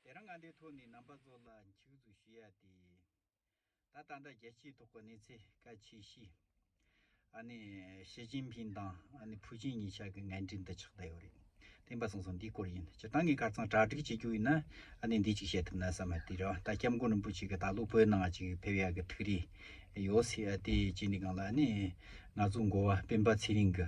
དེ་རང་ང་དེ་ཐོག་ནས་རྣམ་པ་ཚོ་ལ་འཁྱུག་འཛུགས་ཞུ་ཡ་དེ། ད་ད་ལྟ་རྒྱལ་སྤྱིའི་ཐོག་གི་གནས་ཚད་ག་ཆེ་གཤིས། ཨ་ནི་ཞི་ཅིན་ཕིན་དང་ཨ་ནི་ཕུའུ་ཅིན་གཉིས་ཆགས་ཀྱི་ངན་འབྲེལ་འདི་ཆགས་བསྡད་ཡོད་རེད། དེང་པ་སང་སང་འདིའི་སྐོར་ཡིན་སྤྱིར་བཏང་གི་གར་ཚང་གྲ་སྒྲིག་བྱེད་རྒྱུ་ཡིན་ན་ཨ་ནི་འདི་ཅིག་བཤད་ཐུབ་ན་བསམ་མ་དེ་རིང་ད་སྐྱབས་མགོན་རིན་པོ་ཆེ་གི་ད་ལོ་བོད་ནང་ཅིག་ཕེབས་ཡ་གི་ཐུགས་རེ་ཡོད་སྲིད་ཨ་དེ་བྱས་ནས་གང་ལ་ཨ་ནི་ང་ཚོ་འགོ་བ་སྤེན་པ་ཚེ་རིང་གི།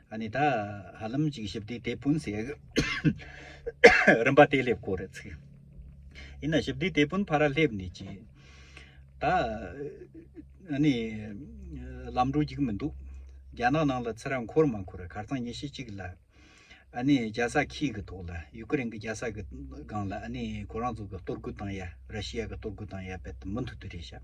ཨ་ནི་ད་ཧ་ལམ་ཅིག་ཞིབ་བསྡུས་དེད་དཔོན་ཟེར་གི། རིམ་པ་དེ་སླེབས་ཁོ་རེ་ཚུགས། ཡིན་ན་ཞིབ་བསྡུས་དེད་དཔོན་ཕ་ར་སླེབས་ནས་ཅི། ད་ཨ་ནི་ལམ་འགྲོ་རྒྱུག་མི་འདུག་རྒྱ་ནག་ནང་ལ་ཚེ་རབས་འཁོར་མ་འཁོར་གར་ཚང་ཉི་ཤུ་གཅིག་ལ་ཨ་ནི་རྒྱ་ས་ཁྱི་གི་ཐོག་ལ་ཡུ་ཀེ་རེན་གི་རྒྱ་ས་གི་སྒང་ལ་ཨ་ནི་ཁོ་རང་ཚོ་གི་གཏོར་རྒོལ་དང་ཡ་ར་ཤི་ཡ་གི་གཏོར་རྒོལ་དང་ཡ་བེད་མུ་མཐུད་དུ་རེད་ཤག།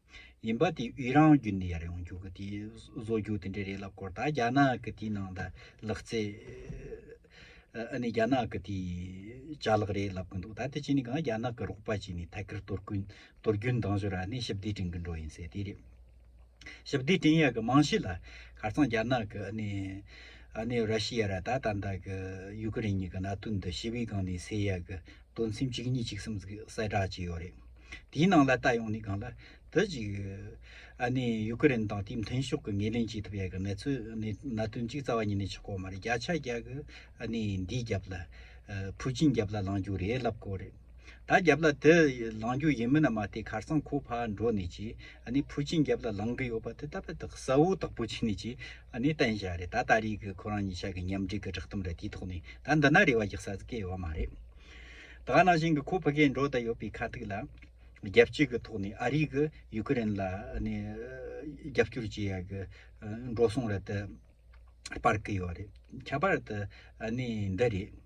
ཡིན་པ་དེ་དབྱི་རང་རྒྱུད་འདི་ཡར་ཡོང་རྒྱུག་གི་དེ་བཟོ་རྒྱུག་དེ་འདྲས་རེད་ལབ་སྐོར་ད་རྒྱ་ནག་གི་དེའི་ནང་ད་ལག་རྩེ་ཨ་ནི་རྒྱ་ནག་གི་དེའི་ཅག་ལག་རེད་ལབ་གི་འདུག་ད་དེ་བྱས་ནས་གང་རྒྱ་ནག་གི་རོགས་པ་བྱས་ནས་ཐད་ཀར་དོར་གུན་དོར་རྒྱུན་འདང་བཞོར་ཨ་ནི་ཞིབ་བསྡུས་བྲིན་གི་འགྲོ་ཡིན་ཟེར་དེ་རེད་ཞིབ་བསྡུས་བྲིན་ཡག་གི་མང་ཤོས་ལ་ཁར་ཚང་རྒྱ་ནག་གི་ཨ་ནི་ཨ་ནི་ར་ཤི་ཡ་ར་ད་ད་ད་གི་ཡུ་ཀི་རེན་གཉིས་གི་གནའ་དུས་འདི་ཞི་བའི་སྒང་ནས་སེལ་ཡག་གི། དོན་སེམས་གཅིག་གཉིས་གཅིག་གསུམ་ཟིག་གསལ་བསྒྲགས་བྱས་ཡོད་རེད། དེའི་ནང་ལ་ལྟ་ཡོང་ནི་གང་ལ། དེ་གཅིག། ཨ་ནི་ཡུ་ཀེ་རེན་དང་དེའི་མཐུན་ཕྱོགས་ཀྱི་ངེས་ལེན་བྱེད་ཐུབ་ཡ་གི་གནས་ཚུལ་གནད་དོན་གཅིག་རྩ་བ་ཉིད་ནས་ཆགས་གོ་མ་རེད་བརྒྱ་ཆ་བརྒྱ་གི་ཨ་ནི་འདིའི་རྒྱབ་ལ། ཕུའུ་ཅིན་རྒྱབ་ལ་ལང་རྒྱུ་རེད་ལབ་གོ་རེད། ད་རྒྱབ་ལ་དེ་ལང་རྒྱུ་ཡིན་མིན་ན་མ་ལྟས་ཁར་སང་ཁོ་ཕ་འགྲོ་ནས་ཀྱིས་ཨ་ནི་ཕུའུ་ཅིན་རྒྱབ་ལ་ལང་གི་ཡོད་པ་དེ་ད་པ་དག་གསལ་བོ་དག་པོ་བྱས་ནས་ཀྱིས་ཨ་ནི་བསྟན་བྱ་རེད་ད་ད་རེས་ཀྱི་ཁོ་རང་ཉིད་ཤག་གི་ཉམས་སྒྲིག་གི་བསྒྲགས་གཏམ་རེད་དེའི་ཐོག་ནས་ད་འདི་ན་རེ་བ་རྒྱག་ས་ཟིག་ཡོད་བ་མ་རེད། ད་ནང་བཞིན་གྱི་ཁོ་ཕི་གའི་འགྲོ་དང་ཡོད་པའི་ཁ་ཐུག་ལ། རྒྱལ་སྤྱི་གི་ཐོག་ནས་ཨ་རིས་གི་ཡུ་ཀེ་རེན་ལ་ཨ་ནི་རྒྱབ་སྐྱོར་བྱེད་ཡ་གི་འགྲོ་སོང་རེད་དེ་སྤར་གི་ཡོད་རེད་ཁྱད་པར་དུ་ཨ་ནི་འདི་རེད།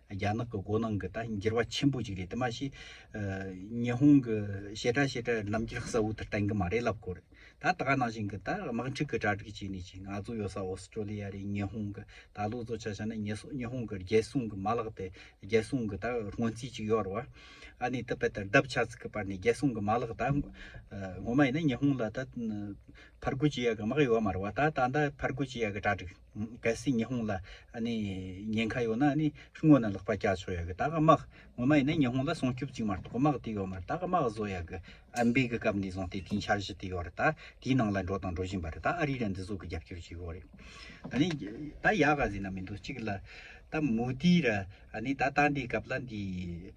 རྒྱ་ནག་གི་མགོ་ནང་གི་ད་འགྱུར་བ་ཆེན་པོ་ཅིག་རེད་དེ་མ་ཤེས། ཉི་ཧོང་གི་བྱེ་བྲག་བྱེ་བྲག་རྣམ་འགྱུར་གསལ་བོ་དེ་བསྟན་གི་མ་རེད་ལབ་དགོས་རེད། ད་ད་ག་ནང་བཞིན་གི་ད་དམག་འཁྲུག་གི་གྲ་སྒྲིག་བྱས་ནས་ཅིག་ང་ཚོ་ཡོད་ས་ཨོས་ཏྲོ་ལི་ཡ་རེད་ཉི་ཧོང་གི་ད་ལོ་ཚོ་ཆ་ཆ་ན་ཉི་ཧོང་གི་རྒྱལ་སྲུང་གི་མ་ལག་དེ་རྒྱལ་སྲུང་གི་ད་སྔོན་རྩིས་ཅིག་ཡོད་རེད། ཨ་ནི་ད་པད་དར་བརྡབ་ཆགས་ཚུགས་ཀི་པར་ནས་རྒྱལ་སྲུང་གི་མ་ལག་ད་ངོ་མ་ཡིན་ན་ཉི་ཧོང་ལ་ད་ཕར་རྒོལ་བྱེད་ཡ་གི་དམག་ཡོད་མ་རེད་བ་ད་ད་ད་ཕར་རྒོལ་བྱེད་ཡ་གི་གྲ་སྒྲིག། གལ་སྲིད་ཉི་ཧོང་ལ་ཉེན་ཁ་ཡོད་ན་དངོས་ནས་ལག་པ་བཀྱག་ཆོག་ཡག་གི་ད་གི་དམག་ངོ་མ་ཡིན་ན་ཉི་ཧོང་ལ་སྲུང་སྐྱོབ་ཅིག་མ་གཏོགས་དམག་དེ་ཡོད་མ་རེད་ད་གི་དམག་བཟོ་ཡག་གི་ཨ་འབེ་གི་སྐབས་ནས་བཟུང་སྟེ་དེའི་འཆར་གཞི་དེ་ཡོད་རེད་ད་དེའི་ནང་ལ་འགྲོ་དང་འགྲོ་བཞིན་པ་རེད་ད་ཨ་རི་ལ་འདི་ཟོ་གི་རྒྱབ་སྐྱོར་བྱེད་ཡོད་རེད་ད་ཡག་ག་ཟེར་ན་མི་འདུག་གཅིག་ལ་ད་མོ་དི་ར་ད་ད་འདི་སྐབས་ལ་འདི།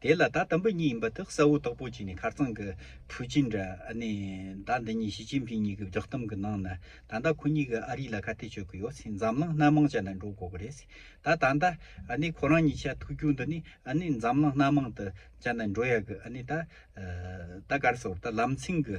དེ་ལ་ད་དམ་པོ་གཉིས་ཡིན་པ་དག་གསལ་བོ་དག་པོ་གཅིག་ནི་ཁར་ཚང་གི་ཕུའུ་ཅིན་འདྲ་ནི་ད་འདི་གཉིས་ཞི་ཅིན་ཕིན་གཉིས་ཀྱི་བསྒྲགས་གཏམ་གྱི་ནང་ནི་ད་ལྟ་ཁོ་གཉིས་ཀྱི་ཨ་རི་ལ་ཁ་གཏད་གཅོད་གི་ཡོད་ཚེ་འཛམ་གླིང་སྣ་མང་ཅན་ལ་འགྲོ་དགོས་གི་རེད་ད་ད་ལྟ་ནི་ཁོ་རང་གཉིས་ཆ་ཐུག་རྒྱུ་འདི་ནི་ནི་འཛམ་གླིང་སྣ་མང་དུ་ཅན་ལ་འགྲོ་ཡག་གི་ནི་ད་ད་ག་རེ་ཟེར་བ་ད་ལམ་སེང་གི་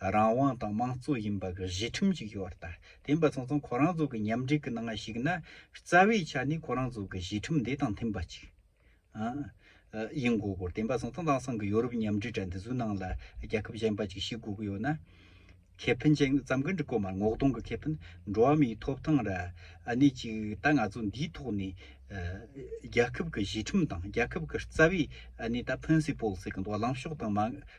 རང་དབང་དང་དམངས་གཙོ་ཡིན་པ་གི་གཞི་ཁྲིམས་ཅིག་ཡོད་ད་དེ་འབའ་ཚང་ཚང་ཁོ་རང་ཚོ་གི་མཉམ་འབྲེལ་གི་ནང་ཞིག་ན་རྩ་བའི་ཆ་ནས་ཁོ་རང་ཚོ་གི་གཞི་ཁྲིམས་དེ་དང་མཐུན་པ་ཅིག་ཡིན་དགོས་དགོས་དེ་འབའ་ཚང་ཚང་དེང་སང་གི་ཡོ་རུབ་མཉམ་འབྲེལ་དྲ་འདི་ཚོའི་ནང་ལ་རྒྱལ་ཁབ་གཞན་པ་ཅིག་ཞིག་དགོས་གི་ཡོད་ན་ཁེ་ཕན་ཅན་ཙམ་གི་འགྲིག་གོ་མ་ངོ་གདོང་གི་ཁེ་ཕན་འགྲོ་བ་མིའི་ཐོབ་ཐང་ར་གནས་ཅིག་ད་ང་ཚོ་འདིའི་ཐོག་ནས་རྒྱལ་ཁབ་གི་གཞི་ཁྲིམས་དང་རྒྱལ་ཁབ་གི་རྩ་བའི་གནས་ད་ཕིན་སི་པོལ་ཟེར་གི་འདུག་ལངས་ཕྱོགས་དང་མ་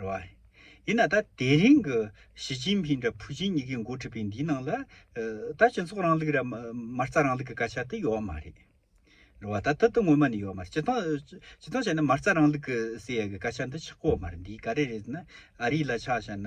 རེད། ཡིན་ན་ད་དེ་རིང་གི་ཞི་ཅིན་ཕིན་དང་ཕུའུ་ཅིན་གཉིས་ཀའི་འགོ་ཁྲིད་པའི་འདིའི་ནང་ལ་ད་སྤྱི་ཚོགས་རིང་ལུགས་ར་མ་རྩ་རིང་ལུགས་ཀྱི་སྐད་ཆ་དེ་ཡོད་མ་རེད། རེད་ད་ད་དུང་ངོ་མ་ནས་ཡོད་མ་རེད། སྤྱི་སྟངས་བྱས་ན་མ་རྩ་རིང་ལུགས་ཀྱི་ཟེར་ཡས་ཀྱི་སྐད་ཆ་འདི་ཆགས་ཀོ་མ་རེད་འདི་ག་རེ་རེད་ཟེར་ན་ཨ་རི་ལ་ཆགས་བྱས་ན།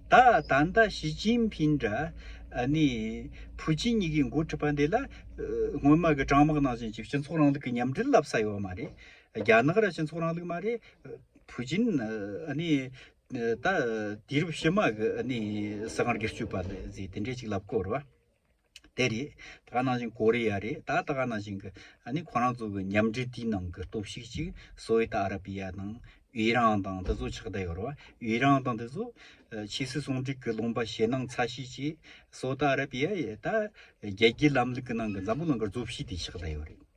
ད་ད་ལྟ་ཞི་ཅིན་ཕིན་འདྲ་ནི་ཕུའུ་ཅིན་གཉིས་ཀའི་འགོ་ཁྲིད་པ་འདི་ལ་སྔོན་མ་གི་དྲང་དམག་ནང་བཞིན་གྱི་སྤྱི་ཚོགས་རིང་ལུགས་ཀྱི་མཉམ་འབྲེལ་ལབ་ས་ཡོད་མ་རེད། རྒྱ་ནག་ར་སྤྱི་ཚོགས་རིང་ལུགས་མ་རེད། ཕུའུ་ཅིན་ནི་ད་དུས་རབས་ཕྱི་མ་གི་ནི་སྲིད་དབང་སྒེར་གཅོད་པ་ལས་ཟེར་དེ་འདྲས་ཅིག་ལབ་དགོས་རེད་བ། དེ་རེད། ད་ག་ནང་བཞིན་ཀོ་རི་ཡ་རེད་ད་ད་ག་ནང་བཞིན་གི་ཨ་ནི་ཁོ་རང་ཚོ་གི་མཉམ་འབྲེལ་དེའི་ནང་གི་སྟོབས་ཤིག་ཅིག་སོ་ཨི་ད་ཨ་ར་པི་ཡ་དང་ཨི་རང་དང་དེ་ཚོ་ཆགས་བསྡད་ཡོད་རེད་བ། ཨི་རང་དང་དེ་ཚོ་ཕྱི་སྲིད་ཟུང་འབྲེལ་གྱི་ལུང་པ་ཞེད་སྣང་ཚ་ཤེས་ཅིག་སོ་ཨི་ད་ཨ་ར་པི་ཡ་ཡིས་ད་རྒྱལ་སྤྱིའི་ལམ་ལུགས་ཀྱི་ནང་གི་འཛམ་བུ་ནང་གི་རྫོབ་གཤིས་དེ་ཆགས་བསྡད་ཡོད་རེད།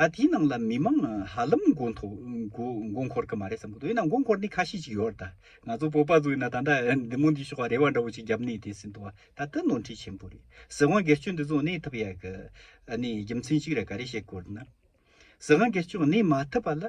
ད་དེའི་ནང་ལ་མི་མང་ཧ་ལམ་མགོ་འཐོ་མགོ་འཁོར་གི་མ་རེད་བསམ་གི་འདུག་ཡིན་ན་མགོ་འཁོར་ནི་ཁ་ཤས་ཅིག་ཡོད་རེད་ད། ང་ཚོ་བོད་པ་ཚོ་ཡིན་ན་ད་ལྟ་འདི་མོ་འདི་ཞོག་ཁ་རེ་བ་འདྲ་བོ་ཅིག་རྒྱབ་ནས་དེ་སྲིད་འདུག་ད་ལྟ་ནོར་འཁྲུལ་ཆེན་པོ་རེད། ཟི་ཝང་སྒེར་གཅོད་འདི་ཚོ་གནས་ཐུབ་ཡག་གི། ནི་རྒྱུ་མཚན་གཅིག་རེད་ག་རེ་བཤད་དགོས་རེད་ན། ཟི་ཝང་སྒེར་གཅོད་གནས་མ་ཐུབ་པ་ལ།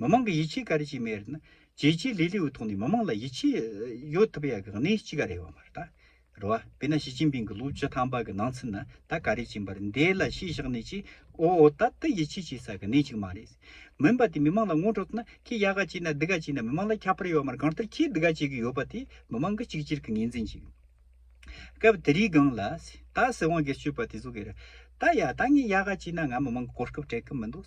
མི་དམངས་ཀྱི་ཡིད་ཆེས་ག་རེ་བྱེད་མི་རེད་ན། རྒྱལ་སྤྱིའི་ལས་སླེའུ་ཐོག་ནས་མི་དམངས་ལ་ཡིད་ཆེས་ཡོད་ཐུབ་ཡག་གི་གནས་ཅི་ག་རེད་བ་མ་རེད། རེད་བ། དཔེར་ན་ཞི་ཅིན་ཕིང་གི་ལོ་བཅུ་ཐམ་པ་གི་ནང་ཚུན་ན་ད་ག་རེ་བྱིན་པར་འདས་ལ་ཤེས་བཞག་ནས་ཅི། ཨོ་ཨོ་ད་ད་ཡིད་ཆེས་བྱེད་ས་གི་གནས་ཅིག་མ་རེད། མིན་པ་དེ་མི་དམངས་ལ་ངོ་སྤྲོད་ཐུབ་ན་ཁྱེད་ཡག་ག་བྱས་ན་འདི་ག་བྱས་ན་མི་དམངས་ལ་ཁྱབ་པར་ཡོད་བ་མ་རེད་གང་ལྟར་ཁྱེད་འདི་ག་བྱེད་གི་ཡོད་པ་དེ་མི་དམངས་ཀྱི་གཅིག་གྱུར་གྱི་ངེས་འཛིན་ཅིག་རེད། སྐབས་དེ་རིའི་སྒང་ལ། ད་སྲིད་དབང་སྒེར་གཅོད་པ་དེ་ཚོ་གི་རེད། ད་ཡ་ད་ངས་ཡག་ག་བྱས་ན་ང་མི་དམངས་ཀྱི་གོ་སྐབས་སྤྲད་གི་མི་འདུག།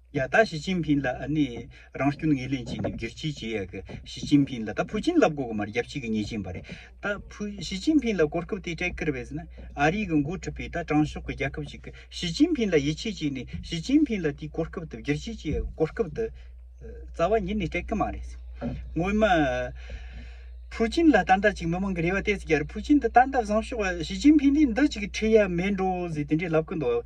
ཡ་ད་ཞི་ཅིན་ཕིན་ལ་ཨ་ནི་རང་སྐྱོན་ངེས་ལེན་བྱེད་ནི་བསྒྱུར་བྱེད་ཅི་ཡག་གི་ཞི་ཅིན་ཕིན་ལ་ད་ཕུ་ཅིན་ལབ་གོ་གི་མ་རེད་རྒྱབ་ཕྱི་གི་ཉེས་ཅན་པ་རེད་ད་ཕུ་ཞི་ཅིན་ཕིན་ལ་གོ་སྐབས་དེ་སྤྲད་ཀིར་བས་ཟིན་ན་ཨ་རི་གི་མགོ་ཁྲིད་པའི་ད་དྲང་ཕྱོགས་གི་རྒྱལ་ཁབ་ཅིག་གི་ཞི་ཅིན་ཕིན་ལ་ཡིད་ཆེས་བྱེད་ནི་ཞི་ཅིན་ཕིན་ལ་དེའི་གོ་སྐབས་དེ་བསྒྱུར་བྱེད་ཅི་ཡག་གི་གོ་སྐབས་དེ་རྩ་བ་ཉིད་ནས་སྤྲད་ཀི་མ་རེད་ཟེར་སྔོན་མ་ཕུ་ཅིན་ལ་ད་འདྲ་ཅིག་མི་མང་གི་རེ་བ་དེ་ཟིག་རྒྱ་རི་ཕུ་ཅིན་དེ་ད་འདྲ་བཟང་ཤོག་ཞི་ཅིན་ཕིན་དེ་འདི་ཅིག་ཁྲི་ཡ་མེད་འགྲོ་ཟེར་དེ་འདྲས་ལབ་ཀི་འདུག་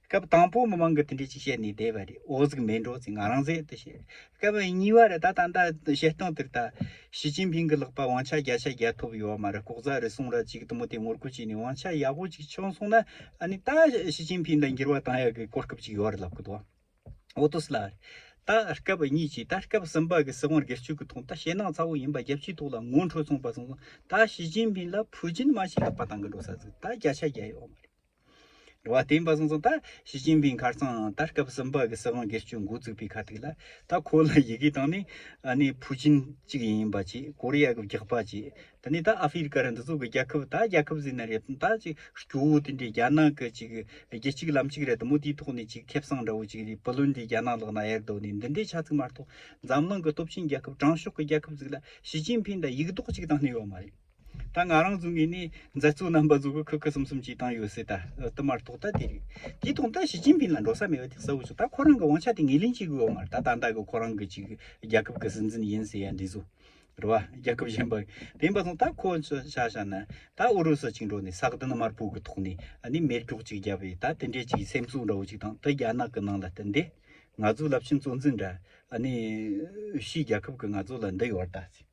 སྐབས་དང་པོ་མི་མང་གི་མཐུན་སྒྲིལ་གྱིས་བཤད་ནས་བསྡད་པ་རེད་འོག་གཟིགས་མེད་འགྲོ་ཚེ་ང་རང་ཟད་དུ་ཤེས། སྐབས་གཉིས་པ་རེད་ད་ད་ལྟ་བཤད་སྟངས་དེར་ད། ཞི་ཅིན་ཕིང་གི་ལག་པ་དབང་ཆ་བརྒྱ་ཆ་བརྒྱ་ཐོབ་ཡོད་མ་རེད་ལྐོག་ཟ་རེད་གསུངས་ར་ཅིག་དུ་མོ་དེ་ངོ་རྒོལ་བྱས་ནས་དབང་ཆ་ཡག་པོ་ཅིག་ཆོག་གསུངས་ན་ནི་ད་ཞི་ཅིན་ཕིང་དང་འགྱུར་བ་གཏང་ཡག་གི་གོ་སྐབས་ཅིག་ཡོད་རེད་ལབ་གི་འདུག་ཨོ་དོ་སི་ལ་རེད་ད་སྐབས་གཉིས་ཀྱིས་ད་སྐབས་གསུམ་པ་གི་སྲིད་དབང་སྒེར་གཅོད་གི་ཐོག་ད་ཞེད་སྣང་ཚ་བོ་ཡིན་པ་རྒྱལ་སྤྱིའི་ཐོག་ལ་ངོ་འཕྲོད་གསུངས་པ་གསུངས་སོང་ད་ཞི་ཅིན་ཕིང་ལ་ཕུ་ཅིན་མ་ཞིག་ལག་པ་དང་གི་འགྲོ་ས་ཟིག་ད་བརྒྱ་ཆ་བརྒྱ་ཡོད་མ་རེད། བ་བསྟན་པ་གསུངས་སོང་ད་ཞི་ཅིན་ཕིང་ཁར་སང་ད་སྐབས་སུམ་པ་གི་སྲིད་དབང་སྒེར་གཅོད་འགོ་བཙུགས་པའི་ཁ་ཐུག་ལ་ད་ཁོ་ལ་ཡི་གེ་བཏང་ནས་ནས་ཕུ་ཅིན་གཅིག་ཡིན་པ་ཅིག་ཀོ་རི་ཡ་གི་བགེགས་པ་ཅིག་ད་ནས་ད་ཨ་ཧྥི་རི་ཀ་རི་འདི་ཚོ་གི་རྒྱལ་ཁབ་ད་རྒྱལ་ཁབ་ཟེར་ན་རེད་དམ་ད་ཅིག་སྐྱོ་བོ་དེ་འདྲའི་རྒྱ་ནག་གི་ཅིག་རྒྱལ་གཅིག་ལམ་གཅིག་རེད་དམ་མོ་དེའི་ཐོག་ནས་ཅིག་ཁེབས་སང་འདྲ་བོ་ཅིག་རེད་བུ་ལོན་དེ་རྒྱ་ནག་ལག་ན་གཡར་དོ་ནས་འདི་འདྲའི་ཆ་ཚིག་མ་གཏོགས་འཛམ་གླིང་གི་སྟོབས་ཆེན་རྒྱལ་ཁབ་དྲང་ཕྱོགས་གི་རྒྱལ་ཁབ་ཟིག་ལ་ཞི་ཅིན་ཕིང་ད་ཡིག་རྡོག་ཅིག་བཏང་ནས་ཡོད་མ་རེད། ད་ང་རང་བཟུང་ངེས་ནས་མཛའ་གཙུག་རྣམ་པ་བཟོ་གི་ཁུག་ཁུག་གསུམ་གསུམ་ཅིག་བཏང་ཡོད་སྲིད་ད་བསྟུད་མར་ཐོག་ལྟ་དེ་རིགས་དེ་ཐོག་ལྟ་ཞི་ཅིན་ཕིན་ལ་འགྲོ་ས་མེད་པ་དེ་གསལ་བོ་བྱུང་ད་ཁོ་རང་གི་དབང་ཆ་དེ་ངེས་ལེན་བྱེད་དགོས་བ་མ་རེད་ད་ད་ལྟ་གི་ཁོ་རང་གི་ཅིག་རྒྱལ་ཁབ་ཀྱི་སྲིད་འཛིན་ཡིན་ཟེར་ཡ་འདི་བཟོ་རེད་བ་རྒྱལ་ཁབ་གཞན་པ་བན་པ་སོང་ད་ཁོ་ཆ་ཤ་ན་ད་ཨུ་རུ་སུ་ཅིག་འགྲོ་ནས་ས་གདི་ན་མར་བུག་གི་ཐོག་ནས་ནས་མེར་སྒྱོག་ཅིག་རྒྱབ་བས་ད་དེ་འདྲས་ཅིག་སེམས་གསོ་འདྲ་བོ་ཅིག་དང་ད་རྒྱ་ནག་གི་ནང་ལ་ལྟ་འདི་ང་ཚོའི་རླབས་ཆེན་གཙོ་འཛིན་འདྲ་ནས་ཤིས་རྒྱལ་ཁབ་ཀྱི་ང་ཚོ་ལ་འདི་ཡོད་རེད་ད་ཟེར།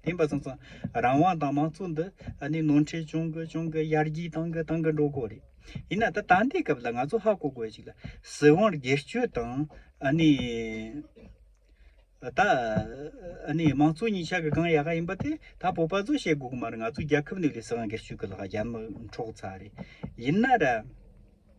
བདེན་པ་ཚང་ཚང་རང་དབང་དང་མང་གཙོ་འདི་ནི་ནོར་འཁྲལ་ཅུང་གི་ཅུང་གི་ཡར་རྒྱས་བཏང་གི་བཏང་གི་འགྲོ་དགོས་རེད། ཡིན་ན་ད་ད་ལྟའི་སྐབས་ལ་ང་ཚོ་ཧ་གོ་དགོས་ཅིག་ལ་སྲིད་དབང་སྒེར་སྤྱོད་དང་ད་མང་གཙོ་གཉིས་ཆ་གི་གང་ཡག་ག་ཡིན་པ་དེ་ད་བོད་པ་ཚོས་བཤད་དགོས་གི་མ་རེད་ང་ཚོ་རྒྱལ་ཁབ་ནི་ལས་སྲིད་དབང་སྒེར་སྤྱོད་གི་ལག་རྒྱ་མི་འཕྲོག་ཚར་རེད། ཡིན་ན་ར།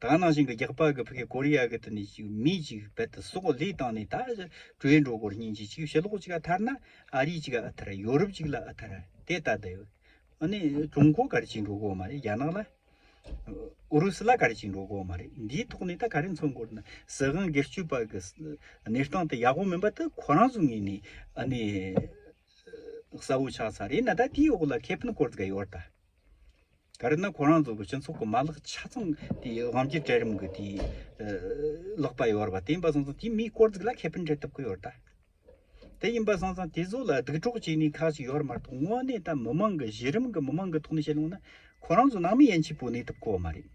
གང་ནང་བཞིན་གྱི་རྒྱག་པ་གི་ཕི་གི་ཀོ་རི་ཡ་གི་དུ་ནས་ཅིག་མི་ཅིག་རྦད་དུ་སོག་ལེ་བཏང་ནས་ད་ཨི་ཀྲོའི་འགྲོ་སྒོར་སྙིང་རྗེ་ཅིག་ཕྱི་ལོག་ཅིག་ཨ་ཐར་ན་ཨ་རི་ཅིག་ཨ་ཐར་ཡོ་རུབ་ཅིག་ལ་ཨ་ཐར་དེ་ད་ད་ཡོད་ཨ་ནི་ཀྲུང་གོ་ག་རེ་ཅིག་འགྲོ་སྒོ་མ་རེད་རྒྱ་ནག་ལ་ཨུ་རུ་སུ་ལ་ག་རེ་ཅིག་འགྲོ་སྒོ་མ་རེད་འདིའི་ཐོག་ནས་ད་ག་རེ་མཚོན་དགོས་རེད་ན་སྲིད་དབང་སྒེར་གཅོད་པ་གི་གནས་སྟངས་དེ་ཡག་པོ་མིན་པ་དེ་ཁོ་རང་ཚོ་ངོས་ནས་ཨ་ནི་གསལ་བོ་ཆགས་ཚར་རེད་ན་ད་དེའི་འོག་ལ་ཁེ་ཕན་སྐོར་དགའ་ཡོད་རེད་ད། ག་རེ་ན་ཁོ་རང་ཚོ་གི་སྤྱི་ཚོགས་ཀྱི་མ་ལག་ཆ་ཚང་དེ་དབང་སྒྱུར་གྲལ་རིམ་གྱི་དེ་ལོག་པ་ཡོད་པ་དེ་ཡིན་པ་སོང་ཙང་དེ་མིའི་དཀོར་རྫིག་ལ་ཁེ་ཕན་འཕྲད་ཐུབ་ཀྱི་ཡོད་ད། དེ་ཡིན་པ་སོང་ཙང་དེ་ཚོ་ལ་སྡུག་གྲོགས་བྱེད་ནུས་ཁག་ཅིག་ཡོད་མ་གཏོགས་དངོས་གནས་ད་མི་མང་གི་གཞི་རིམ་གྱི་མི་མང་གི་ཐོག་ནས་བཤད་ལོང་ན་ཁོ་རང་ཚོ་ནང་མི་ཡན་ཆད་པོ་གནས་ཐུབ་ཁོ་མ་རེད།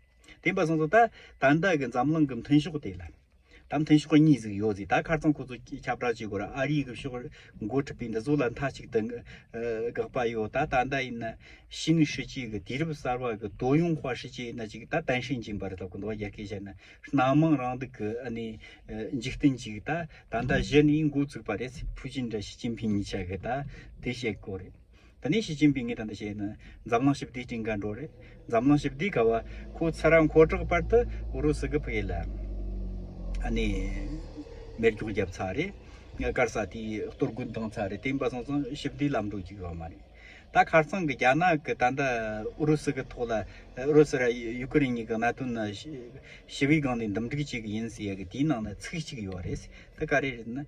དེ་འབའ་སང་སོ་ད་ད་འདའ་གི་འཛམ་གླིང་གི་མཐུན་ཤོག་དེ་ལ་ད་མཐུན་ཤོག་གཉིས་ཟིག་ཡོད་ཟིག་ད་ཁར་ཙང་ཁོ་ཚོ་ཁྱབ་བསྒྲགས་བྱེད་དགོས་ར་ཨ་རིའི་གི་ཕྱོགས་རེ་འགོ་ཁྲིད་པའི་འདི་ཚོ་ལ་མཐའ་གཅིག་ཏུ་དགག་པ་ཡོད་ད་ད་འདའ་ཡིན་ན་ཤི་ནི་ཧྲི་ཅིག་གི་དུས་རབས་གསར་བ་གི་དོ་ཡུང་བྷ་ཧྲི་ཅིག་ན་ཅིག་ད་ཏན་ཧྲིན་ཅིན་པར་ལབ་གི་འདུག་རྒྱ་སྐད་བཤད་ན་སྣ་མང་རང་སྡུག་གི་ཨ་ནི་འཇིག་རྟེན་ཅིག་ད་ད་འདའ་གཞི་ནི་འགོ་བཙུགས་པ་རེད་ཕུའུ་ཅིན་དང་ཞི་ཅིན་ཕིན་གཉིས་ཆ་གི་ད་དེ་བཤད་དགོས་རེད། ད་ནི་ཞི་ཅིན་ཕིང་གིས་དང་དུ་བྱས་ན་འཛམ་གླིང་ཞི་བདེའི་སྤྲིན་དགའ་འགྲོ་རེད། འཛམ་གླིང་ཞི་བདེའི་དགའ་བ་ཁོ་ཚ་ར་མཁོ་དྲག་པར་དུ་ཨུ་རུ་སུ་གི་བུ་ཡིད་ལ་ཨ་ནི་མེར་སྒྱོགས་བརྒྱབ་ཚར་རེད། ངས་སྐར་ས་དེ་གཏོར་རྒོལ་བཏང་ཚར་རེད་དེ་འབའ་སོང་ཙང་ཞི་བདེའི་ལམ་འགྲོ་རྒྱུ་ཡོད་མ་རེད། ད་ཁར་ཚང་གི་རྒྱ་ནག་གི་ད་ལྟ་ཨུ་རུ་སུ་གི་ཐོག་ལ་ཨུ་རུ་སུ་ར་ཡུ་ཀེ་རེན་གཉིས་ཀྱི་གནད་དོན་ནི་ཞི་བའི་སྒང་ནས་འདུམ་འགྲིག་བྱེད་གི་ཡིན་ཟེར་ཡ་གི་དེའི་ནང་ན་ཚིག་གཅིག་ཡོད་རེད། དེ་ག་རེ་རེད་ན།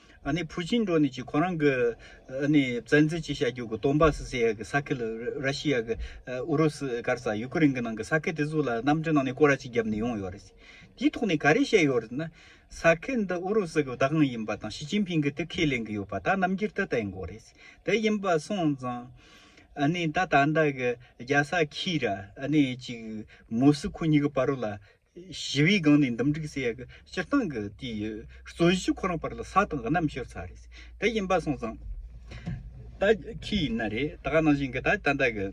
ཨ་ནི་བུ་ཆིན་གྲོ་ནི་ཅི་ཁོ་རང་གི་ཨ་ནི་བཙན་འཛུལ་ཅི་བྱ་རྒྱུ་གི་དོན་བ་སི་སི་ཡ་གི་ས་ཁེལ་ར་ཤི་ཡ་གི་ཨུ་རུ་སི་ཀར་སཱ་ཡུ་ཀི་རིང་གི་ནང་གི་ས་ཁེལ་དེ་ཚུ་ལ་གནམ་གྲི་ནང་ནས་ཀོ་ར་ཅིག་རྒྱབ་ནས་ཡོང་ཡོད་རེད་དེའི་ཐོག་ནས་ག་རེ་བཤད་ཡོད་རེད་ན་ས་ཁེལ་འདི་ཨུ་རུ་སི་གི་བདག་དབང་ཡིན་པ་དང་ཞི་ཅིན་ཕིང་གི་དེ་ཁས་ལེན་གི་ཡོད་པ་ད་རྣམ་འགྱུར་དེ་ལྟ་ཡིན་གོ་རེད་དེ་ཡིན་པ་སོང་ཙང་ཨ་ནི་ད་ད་ལྟ་གི་རྒྱ་ས་ཁི་ར་ཨ་ནི་ཅིག་མུ་སི་ཁུ་གཉིས་གི་བ་རུ་ལ། ཞི་བའི་སྒང་ནས་འདུམ་འགྲིག་སེ་ཡ་གི་སྤྱིར་བཏང་གི་དེའི་རྩོད་གཞི་ཁོ་རང་བར་ལ་ས་དང་གནམ་ཤོར་ཚར་རེད་དེ་ཡིན་པ་སོང་ཙང། ད་ཁྱི་ཡིན་ན་རེད་ད་ག་ནང་བཞིན་གི་ད་ད་ལྟ་གི་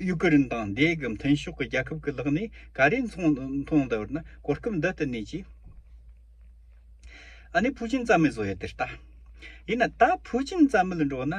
ཡུ་ཀེ་རིན་དང་འདས་གི་མཐུན་ཕྱོགས་གི་རྒྱལ་ཁབ་གི་ལག་ནས་ག་རེ་མཐོང་ད་བར་ན་གོ་སྐབས་འདི་ལྟ་ནས་ཀྱི། ཨ་ནི་ཕུའུ་ཅིན་རྩ་མེད་བཟོ་ཡ་དེ་ལྟ། ཡིན་ན་ད་ཕུའུ་ཅིན་རྩ་མེད་འགྲོ་ན།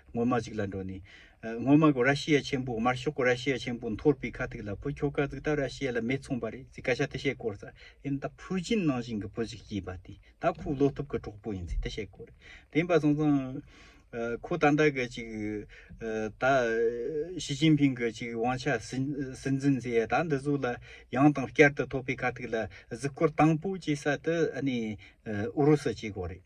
སྔོན་མ་ཞིག་ལ་འགྲོ་ནས། སྔོན་མ་གོ་ར་ཤི་ཡ་ཆེན་པོ་དམར་ཤོག་གོ་ར་ཤི་ཡ་ཆེན་པོ་འཐོར་པའི་ཁ་ཐུག་ལ་བུ་ཁྱོ་ག་ཟིག་ད་ར་ཤི་ཡ་ལ་མེ་ཚོང་པ་རེད་ཟིག་སྐད་ཆ་དེ་བཤད་དཀོར་ཟ་ཨེ་ད་ཕུའུ་ཅིན་ནང་བཞིན་གི་བུ་ཞིག་སྐྱེས་པ་དེ་ད་ཁོའི་བློ་སྟོབས་ཀྱི་གྲོགས་པོ་ཡིན་ཟིག་དེ་བཤད་དཀོར་རེད་དེ་འབའ་སོང་ཙང། ཁོ་ད་ལྟ་གི་ཅིག་ད། ཞི་ཅིན་ཕིང་གི་ཅིག་དབང་ཆ་སྲིད་འཛིན་མཛད་ཡ་ད་འདི་ཟུག་ལ་ཡང་དང་བསྐྱར་དུ་ཐོབ་པའི་ཁ་ཐུག་ལ་གཟིགས་སྐོར་དང་པོ་བྱེད་ས་དེ་ཨ་ནི་ཨུ་རུ་སུ་བྱེད་དགོས་རེད།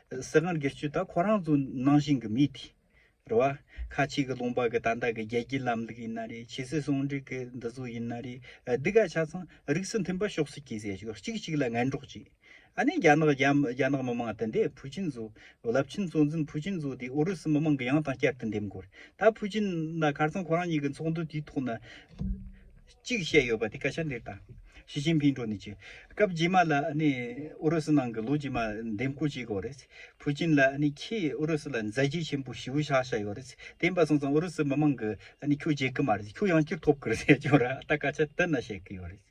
སྲིད་དབང་སྒེར་གཅོད་དག་ཁོ་རང་ཚོའི་ནང་བཞིན་གྱི་མི་དེ་རེད་བ། ཁ་ཆེ་གི་ལུང་པ་གི་ད་ལྟ་གི་རྒྱལ་སྤྱིའི་ལམ་ལུགས་ཡིན་ན་རེད་ཆེ་སྲིད་ཟུང་འབྲེལ་གི་འདི་ཚོ་ཡིན་ན་རེད་འདི་ག་ཆ་ཚང་རིགས་སུ་མཐུན་པ་ཤོག་སྲིད་ཀྱི་ཟེར་ཞོར་གཅིག་གཅིག་ལ་ངན་གྲོགས་བྱས། ཨ་ནེ་རྒྱ་ནག་རྒྱ་ནག་མི་མང་དེ་འདྲས་ཕུ་ཅིན་ཚོ་རླབས་ཆེན་གཙོ་འཛིན་ཕུ་ཅིན་ཚོ་དེ་ཨུ་རུ་སུ་མི་མང་གི་ཡང་དང་བསྐྱར་དུ་འདེམས་དགོས་རེད་ད་ཕུ་ཅིན་ན་ཁར་ཚང་ཁོ་རང་གཉིས་ཀྱི་ཚོགས་འདུ་དེའི་ཐོག་ན། གཅིག་བཤད་ཡོད་པ་དེ་སྐད་ཆ་འདིར་དང། ཞི་ཅིན་ཕིན་གྲོ་ནི་ཅི། སྐབས་རྗེས་མ་ལ་ནི་ཨུ་རུ་སུ་ནང་གི་ལོ་རྗེས་མ་འདེམས་བསྐོ་བྱེད་དགོས་རེད། ཕུའུ་ཅིན་ལ་ནི་ཁྱེད་ཨུ་རུ་སུ་ལ་མཛད་རྗེས་ཆེན་པོ་ཞེའུ་ཤ་ཤ་ཡོད་རེད། དེ་འབའ་སོང་ཙང་ཨུ་རུ་སུ་མི་མང་གིས་ནི་ཁྱོད་རྗེས་ཀི་མ་རེད། ཁྱོད་ཡང་སྐྱུར་ཐོབ་ཀི་རེད་ཟེར་གྱོ་ར་ད་སྐད་ཆ་དེ་ན་བཤད་ཀི་ཡོད་རེད།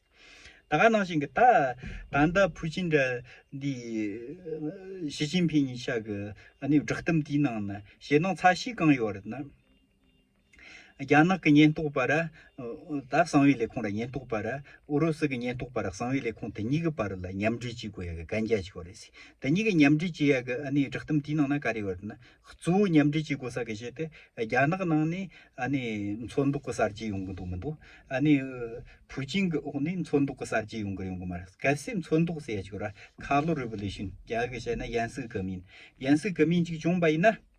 ད་ག་ནང་བཞིན་གི་ད་ད་ནྡ་ཕུའུ་ཅིན་འདྲ་འདི་ཞི་ཅིན་ཕིན་ཉི་ཤ་གི་ནི་བསྒྲགས་གཏམ་དེའི་ནང་ནི་ཞེད་སྣང་ཚ་ཤིས་གང་ཡོད་རེད་ན། རྒྱ་ནག་གི་ཉེན་རྟོག་པ་ར་ད་གསང་བའི་ལས་ཁུངས་ར་ཉེན་རྟོག་པ་ར་ཨུ་རུ་སུ་གི་ཉེན་རྟོག་པ་ར་གསང་བའི་ལས་ཁུངས་དེ་གཉིས་ཀྱི་བར་ལ་མཉམ་འབྲེལ་བྱེད་དགོས་ཡ་གི་གན་རྒྱ་ཞིག་ཡོད་རེད་ཟེར་དེ་གཉིས་ཀྱི་མཉམ་འབྲེལ་བྱེད་ཡ་གི་ཨ་ནི་བསྒྲགས་གཏམ་དེའི་ནང་ན་ག་རེ་ཡོད་ན་གཙོ་བོ་མཉམ་འབྲེལ་བྱེད་དགོས་ས་གི་གཞི་དེ་རྒྱ་ནག་ནང་ནས་ཨ་ནི་མཚོ་འདུག་གི་གསར་བརྗེ་ཡོང་གི་འདུག་མི་འདུག་ཨ་ནི་ཕུའུ་ཅིན་གི་འོག་ནས་མཚོ་འདུག་གི་གསར་བརྗེ་ཡོང་གི་ཡོང་གི་མ་རེད་གལ་སྲིད་མཚོ་འདུག་ཟེར་ཡ་ཞིག་ཡོད་ར་ཁ་ལོ་རི་བོ་ལེ་ཤུན་རྒྱ་གི་བཤད་ན་ཡན་སྲིད་གི་མིན་ཡན་སྲིད་གི་མིན་ཅིག་བྱུང་བ་ཡིན་ན།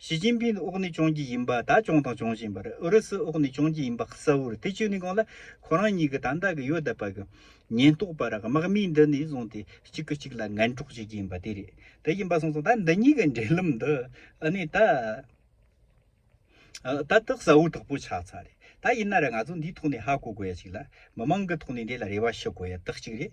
ཞི་ཅིན་ཕིན་དབུགས་ནི་གཅོང་གྱི་ཡིན་པ་ད་གཅོང་དང་གཅོང་བཞིན་པར་ཨུ་རུ་སུ་དབུགས་ནི་གཅོང་གྱི་ཡིན་པ་གསལ་བོར་ཐེ་བྱུས་ནས་གང་ལ་ཁོ་རང་གཉིས་ཀྱི་ད་ལྟ་གི་ཡོད་པ་གི་ཉེན་རྟོག་པ་ར་གི་དམག་མིའི་འདི་ནས་བཟུང་སྟེ་གཅིག་གི་གཅིག་ལ་ངན་གྲོགས་བྱེད་ཀྱི་ཡིན་པ་དེ་རེད་དེ་ཡིན་པ་སོང་ཙང་ད་འདི་གཉིས་ཀྱི་འབྲེལ་ལམ་འདི་ཨ་ནི་ད་ད་ལྟ་གསལ་བོ་དག་པོ་ཆགས་ཚར་རེད་ད་ཡིན་ན་ར་ང་ཚོ་འདིའི་ཐོག་ནས་ཧ་གོ་དགོས་ཡ་གཅིག་ལ་མི་མང་གི་ཐོག་ནས་འདི་ལ་རེ་བ་ཞུ་དགོས་ཡ་དག་གཅིག་རེད།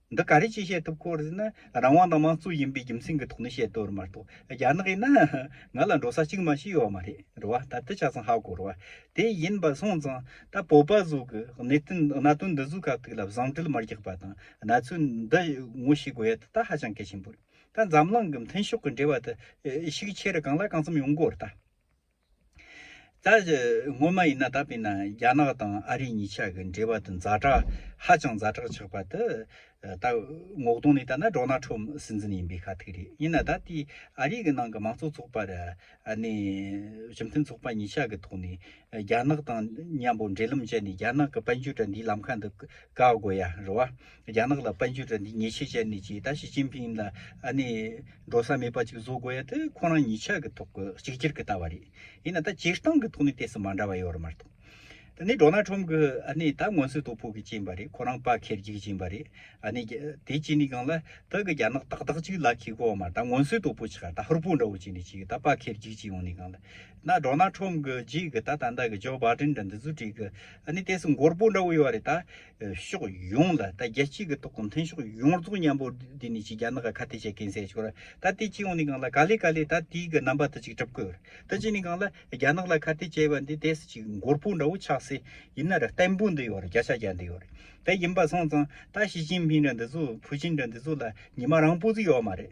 འདི་ག་རེ་ཅིས་བཤད་ཐུབ་ཁོ་རེ་ན་རང་དབང་དང་མང་གཙོ་ཡིན་པའི་རྒྱུ་མཚན་གི་ཐོག་ནས་བཤད་དོ་རེ་མ་གཏོགས་རྒྱ་ནག་ཡིན་ན་ང་ལ་འགྲོ་ས་གཅིག་མ་ཞིག་ཡོད་མ་རེད་རེད་བ་ད་ལྟ་ཆ་ཚང་ཧ་གོ་རེད་བ་དེ་ཡིན་པ་སོང་ཙང་ད་བོད་པ་ཟོ་གི་གནད་དོན་གནད་དོན་འདི་ཟོ་ག་ཐུག་ལ་བཟང་དྲིལ་མར་རྒྱག་པ་དང་གནད་ཚུལ་འདི་ངོ་ཤེས་དགོས་ཡ་ད་ད་ཧ་ཅང་གལ་ཆེན་པོ་རེད་ད་འཛམ་གླིང་གི་མཐུན་ཕྱོགས་གི་འབྲེལ་བ་དེ་ཤུགས་ཆེ་རུ་གང་ལ་གང་འཚམ་ཡོང་དགོས་རེད་ད། ད་སྔོན་མ་ཡིན་ན་ད་བས་ན་རྒྱ་ནག་དང་ཨ་རི་གཉིས་ཆ་གི་འབྲེལ་བ་དེ་མཛའ་གྲ་ཧ་ཅང་མཛའ་གྲགས་ཆགས་པ་དེ་ད་ངོ་གདོང་ནས་ལྟ་ན་སྒྲོ་ན་འཕྲོ་སྲིད་འཛིན་ཡིན་པའི་ཁ་ཐུག་རེད་ཡིན་ན་ད་ལྟའི་ཨ་རི་གི་ནང་གི་མང་གཙོ་ཚོགས་པ་ར་ནས་གཞུང་མཐུན་ཚོགས་པ་གཉིས་ཆ་གི་ཐོག་ནས་རྒྱ་ནག་དང་མཉམ་པོ་འབྲེལ་ལམ་བྱས་ནས་རྒྱ་ནག་གི་དཔལ་འབྱོར་དྲ་འདིའི་ལམ་ཁ་འདི་བཀག་དགོས་ཡ་རུ་བ། རྒྱ་ནག་ལ་དཔལ་འབྱོར་དྲ་འདི་ཉེས་ཆད་བཅད་ནས་ཀྱི་ད་ཞི་ཅིན་ཕིན་ལ་ཨ་ནི་འགྲོ་ས་མེད་པ་ཅིག་བཟོ་དགོས་ཡ་དེ་ཁོ་རང་ཉིས་ཆ་གི་ཐོག་གི་གཅིག་གྱུར་གི་ལྟ་བ་རེད་ཡིན་ན་ད་སྤྱིར་བཏང་གི་ཐོག་ནས་དེ་སུ་མ་འདྲ་བ་ཡོད་རེད་མ་གཏོགས་ད་ནི་འགྲོ་ན་ཁྲོམ་གི་ཨ་ནི་ད་སྔོན་སུས་དོ་ཕོག་གི་ཅིན་པ་རེད་ཁོ་རང་པ་ཁེར་གྱིས་ཅིན་པ་རེད་ཨ་ནི་དེ་གཅིག་ནས་གང་ལ་ད་གི་རྒྱ་ནག་ཏག་ཏག་ཅིག་ལ་ཁིག་གོ་མ་ད་སྔོན་སུས་དོ་ཕོག་ཅིག་ག་ད་ཧུར་པོ་འདྲ་བོ་ཅིག་ནས་ཅིག་ད་པ་ཁེར་གྱིས་ཅིག་ཡོང་ནས་གང་ལ་ན་འགྲོ་ན་ཁྲོམ་གི་རྗེས་གི་ད་ད་ད་གི་ཇོ་བྷ་དྲིན་དྲ་འདི་ཟུ་བྲིས་གི་ཨ་ནི་དེ་སུ་འགོར་པོ་འདྲ་བོ་ཡོད་རེད་ད། ཕྱོགས་ཡོངས་ལ་ད་རྒྱལ་སྤྱི་གི་ཐོག་གུང་ཐན་ཕྱོགས་ཡོངས་རྫོགས་མཉམ་པོ་དེ་ནི་ཅིག་རྒྱ་ནག་ག་ཁ་ཏེ་ཆེ་གེན་སེ་ཆོག་ར་ད་དེ་སྤྱི་ཡོངས་ནི་གང་ལ་ག་ལེ་ག་ལེ་ད་དེའི་གི་རྣམ་པ་ད་ཅིག་གྲབ་དགོས་ར་ད་ཅིག་ནི་གང་ལ་རྒྱ་ནག་ལ་ཁ་ཏེ་བྱས་པ་འདི་དེ་སི་ཅིག་མགོར་པོ་འདྲ་བོ་ཆགས་སེ་ཡིན་ན་ར་བརྟན་པོ་འདི་ཡོག་ར་རྒྱ་ཤ་རྒྱ་འདི་ཡོག་རེད་ད་ཡིན་པ་སོང་ཙང་ད་ཞི་ཅིན་ཕིན་ར་འདི་ཚོ་ཕུ་ཅིན་ར་འདི་ཚོ་ལ་ཉི་མ་རང་པོ་ཟིག་ཡོག་མ་རེད་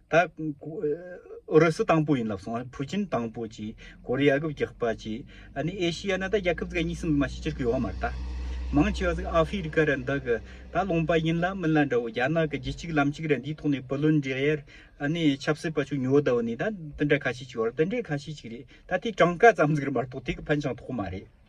ད། ཨུ་རུ་སུ་དང་པོ་ཡིན་ལབ་སོང་ཕུའུ་ཅིན་དང་པོ་ཅིག་གོ་རི་ཡ་གི་རྒྱག་པ་ཅིག་ཨ་ནི་ཨེ་ཤི་ཡ་ནི་ད་རྒྱ་ཁབ་ཙི་ག་གཉིས་སུ་མི་མ་ཤི་ཅིར་གི་ཡོག་མར་ད། མང་ཆེ་བ་ཟིག་ཨ་ཧྥི་རི་ཀ་རི་འདི་གི་ད་ལོངས་པ་ཡིན་ལ་མིན་ལ་འདྲ་བོ་རྒྱ་ནག་གི་རྒྱུ་གཅིག་ལམ་གཅིག་རེད་འདིའི་ཐོག་ནས་བུ་ལོན་འཇལ་ཡར་ཨ་ནི་ཆབ་སྲིད་པ་ཆུ་ཉོ་ད་བུ་ནི་ད་འདི་འདྲ་ཁ་ཤས་ཅིག་ཡོག་རེད་འདི་འདྲའི་ཁ་ཤས་ཅིག་རེད་ད་དེ་གྲངས་ཀ་ཙམ་ཟིག་རེད་མ་གཏོགས་དེ་གི་ཕན་ཆང་ཐོག་མ་རེད།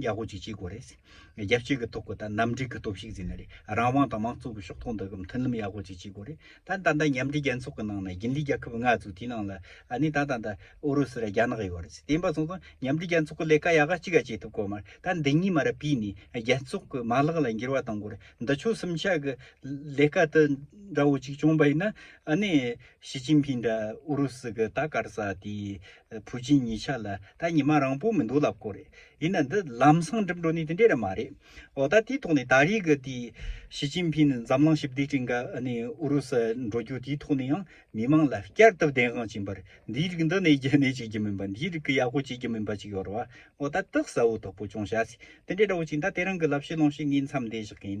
ཡག་པོ་ཅིག་བྱེད་དགོས་རེད། རྒྱལ་སྤྱིའི་གི་ཐོག་གི་ད་ནམ་འགྲིག་གི་སྟོབས་ཤིག་ཟིན་ན་རེད། རང་དབང་དང་མང་གཙོ་གི་ཤོག་ཐོག་འདི་གི་མཐུན་ལམ་ཡག་པོ་ཅིག་བྱེད་དགོས་རེད། ད་ད་ལྟ་མཉམ་འབྲེལ་རྒྱལ་ཚོགས་གི་ནང་ན་རྒྱུན་ལས་རྒྱལ་ཁབ་ལྔ་ཚོ་དེའི་ནང་ལ་ཨ་ནི་ད་ད་ད་ཨུ་རུ་སུ་ར་རྒྱ་ནག་ཡོད་རེད། དེ་ཡིན་པ་སོང་ཙང་མཉམ་འབྲེལ་རྒྱལ་ཚོགས་གི་ལས་ཀ་ཡག་གཅིག་ག་བྱེད་ཐུབ་དགོས་མ་རེད། ད་འདི་གཉིས་མ་ར་བིས་ནས་རྒྱལ་ཚོགས་གི་མ་ལག་ལ་འགྱུར་བ་གཏང་དགོས་རེད། འདི་ཆོལ་གསུམ་ཆ་གི་ལས་ཀ་དི་འདྲ་བོ་ཅིག་བྱུང་བ་ཡིན་ན་ཨ་ནི་ཞི་ཅིན་ཕིན་འདྲ་ཨུ་རུ་སུ་གི་ད་གར་ས་དེའི། བུ་ཆེན་གཉིས་ཆ་ལ་ད་ཉི་མ་རང་པོ་མི་འདུག་ལབ་ཀོ་རེད་ཡིན་ན་འདི་ལམ་སང་འགྲིམ་འགྲོ་ནི་དེ་འདྲས་ར་མ་རེད་འོ་ད་དེའི་ཐོག་ནས་ད་རེས་ཀྱི་དེའི་ཞི་ཅིན་ཕིན་ནི་འཛམ་གླིང་ཞི་བདེ་བཀྲིན་ག་ནི་ཨུ་རུ་སུ་འགྲོ་རྒྱུ་དེའི་ཐོག་ནས་ཡང་མི་མང་ལ་བསྐྱར་དུ་བདེན་དབང་བྱིན་པར་འདིའི་རིགས་འདི་ནས་རྒྱ་ནས་བྱེད་རྒྱུ་མིན་པ་འདིའི་རིགས་ཀྱི་ཡག་པོ་བྱེད་རྒྱུ་མིན་པ་ཅིག་ཡོར་བ་འོ་ད་སྟག་ཟ་བོ་དོག་པོ་ཅུང་ཞག་སི་དེ་འདྲས་འདྲ་བོ་ཅིག་ད་དེ་རང་གི་ལབ་ཤེས་ལོང་ཤེས་ངའི་མཚམས་འདས་བཞག་གིན